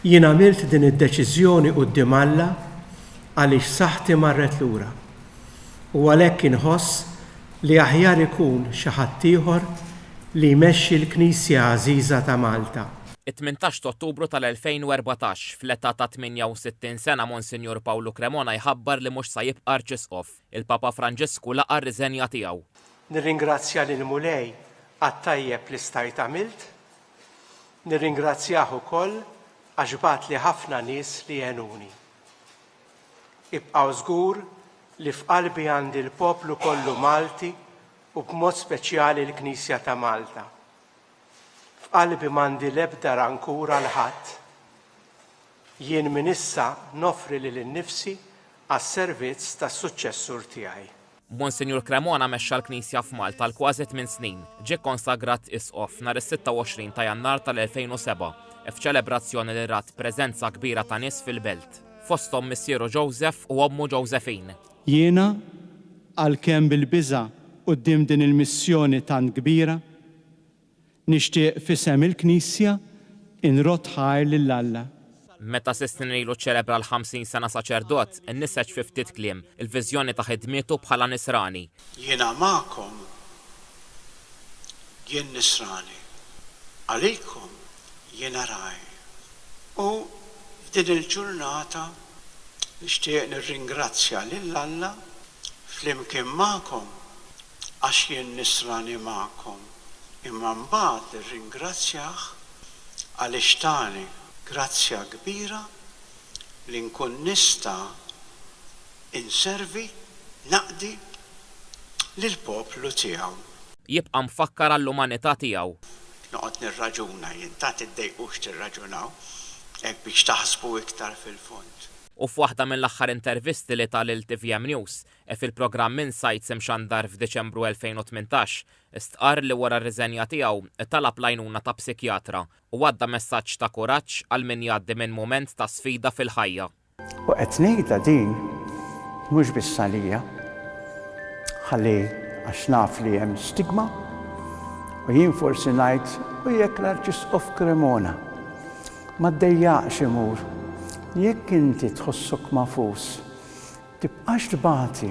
Jien għamilt din id-deċiżjoni quddiem Alla għaliex saħħti marret lura, u għalhekk inħoss li aħjar ikun xi ħaddieħor li jmexxi l-Knisja għażiża ta' Malta. It-tmintax t'Ottubru tal-2014, fl-età ta' 68 sena Monsinjur Pawlu Cremona jħabbar li mhux sa jibqa' Arċisqof. Il-Papa Franġisku laqa' r-riżenja tiegħu. Nirringrazzja lill-Mulej għat-tajjeb li stajt għamilt Nirringrazzjah ukoll għax bagħatli ħafna nies li għenuni. Ibqgħu żgur li f'qalbi għandi l-poplu kollu Malti u b'mod speċjali l-Knisja ta' Malta. F'qalbi m'għandi l-ebda rankur għal ħadd. Jien minn issa noffri lili nnifsi għas-servizz tas-suċċessur tiegħi. Monsinjur Cremona mexxa l-Knisja f'Malta għal kważi tmien snin. Ġie kkonsagrat Isqof nhar is-26 ta' Jannar tal-2007 f'ċelebrazzjoni li rat preżenza kbira ta' nies fil-belt, fosthom missieru Joseph u ommu Josephine. Jiena, għalkemm bil-biża' quddiem din il-missjoni tant kbira, Nixtieq f'isem il-Knisja nrodd ħajr lil Alla. Meta Sistine ilu ċċelebra l-ħamsin sena saċerdot, inniseġ fi ftit kliem, il-viżjoni ta' ħidmietu bħala nisrani. Jiena magħkom jien nisrani, għalikom jiena ragħaj. U f'din il-ġurnata nixtieq nirringrazzja lil Alla flimkien magħkom għax jien nisrani magħkom, imma mbagħad irringrazzjah għaliex tani grazzja kbira li nkun nista' inservi, naqdi, lill-poplu tiegħu. Jibqa' mfakkar għall-umanità tiegħu. Noqgħod nirraġuna jien, tant tiddejqux tirraġunaw, hekk biex taħsbu iktar fil-fond. U f'waħda mill-aħħar intervisti li ta lil tvm News, e fil-programm Insights imxandar f'Diċembru 2018, stqarr li wara r-riżenja tiegħu talab l-għajnuna ta' psikjatra u għadda messaġġ ta' kuraġġ għal min jgħaddi minn mument ta' sfida fil-ħajja. U qed ngħidha din mhux biss għalija, ħalli għax naf li hemm stigma u jien forsi ngħid u jekk l-Arċisqof Cremona ma ddejjaqx imur, jekk inti tħossok magħfus, Tibqax tbati.